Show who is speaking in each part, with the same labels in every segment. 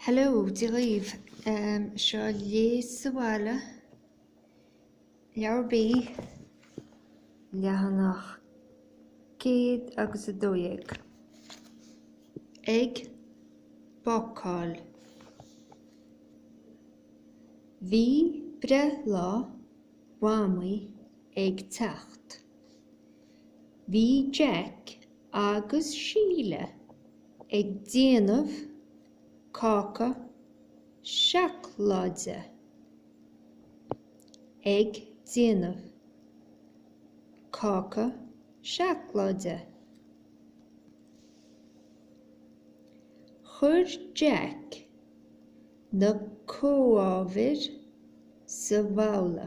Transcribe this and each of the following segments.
Speaker 1: Hello, Dia dhaoibh. Seo Léigh sa Bhaile, Leabhar B, leathanach 112. Ag bácáil. Bhí breithlá Mhamaí ag teacht. Bhí Jack agus Síle ag déanamh cáca seacláide. Ag déanamh cáca seacláide. Chuir Jack na comhábhair sa bhabhla.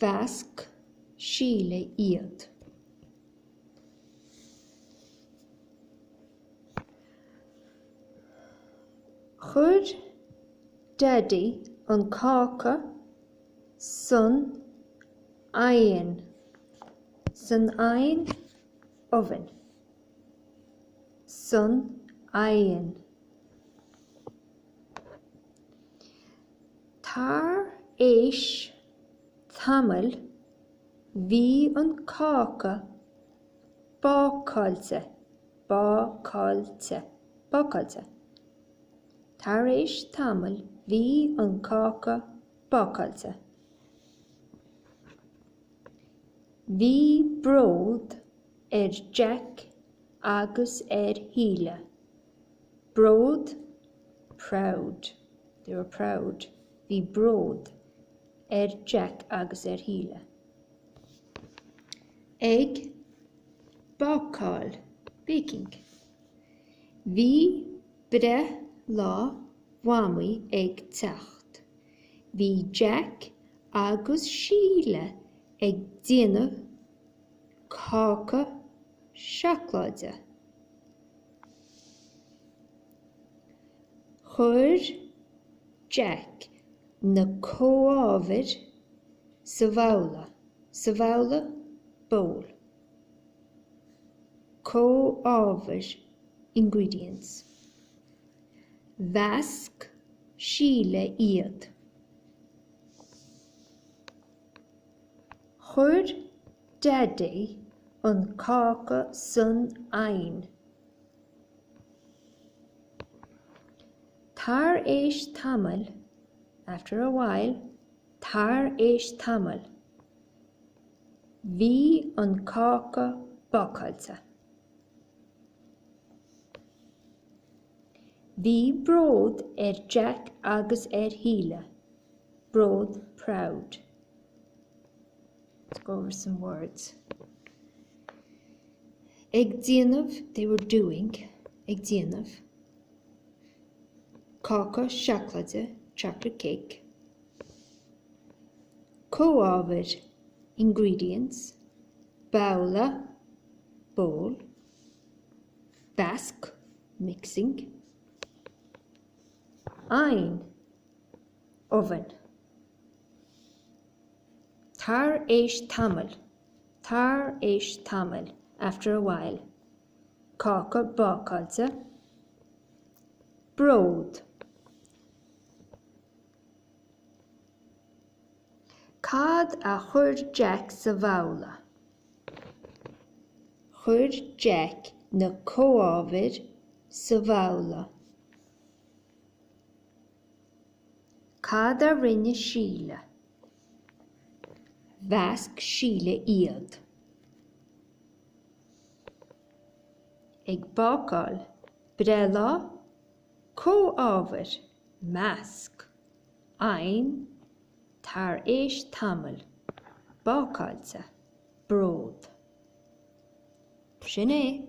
Speaker 1: Mheasc Síle iad. Chuir Daidí an cáca san oigheann, san oigheann, oven, san oigheann. Tar éis tamaill bhí an cáca bácáilte, bácáilte, bácáilte. Tar éis tamaill bhí an cáca bácáilte. Bhí bród ar Jack agus ar Shíle. Bród, proud, they were proud, bhí bród ar Jack agus ar Shíle. Ag bácáil, baking. Bhí breithlá Mhamaí ag teacht. Bhí Jack agus Síle ag déanamh cáca seacláide. Chuir Jack na comhábhair sa bhabhla sa bhabhla, bowl, comhábhair, ingredients. Mheasc Síle iad. Chuir. Daidí, an cáca san oighean. Tar éis tamaill, after a while, tar éis tamaill, bhí an cáca bácáilte. Bhí bród ar Jack agus ar Shíle. Bród, proud. Let's go over some words. Ag déanamh, they were doing, ag déanamh. Cáca seaclaide, chocolate cake. Comhábhair, ingredients. Babhla, bowl. Basc, mixing. Ein, oven. Tar éis tamaill, tar éis tamaill, after a while. Cáca bácáilte, bród. Cad a chuir Jack sa bhabhla? Chuir Jack na comhábhair sa bhabhla. Cad a rinne Síle? Mheasc Síle iad. Ag bácáil. Breithlá. Comhábhair. Measc. Oven. Tar éis tamaill. Bácáilte. Bród. B'shin é.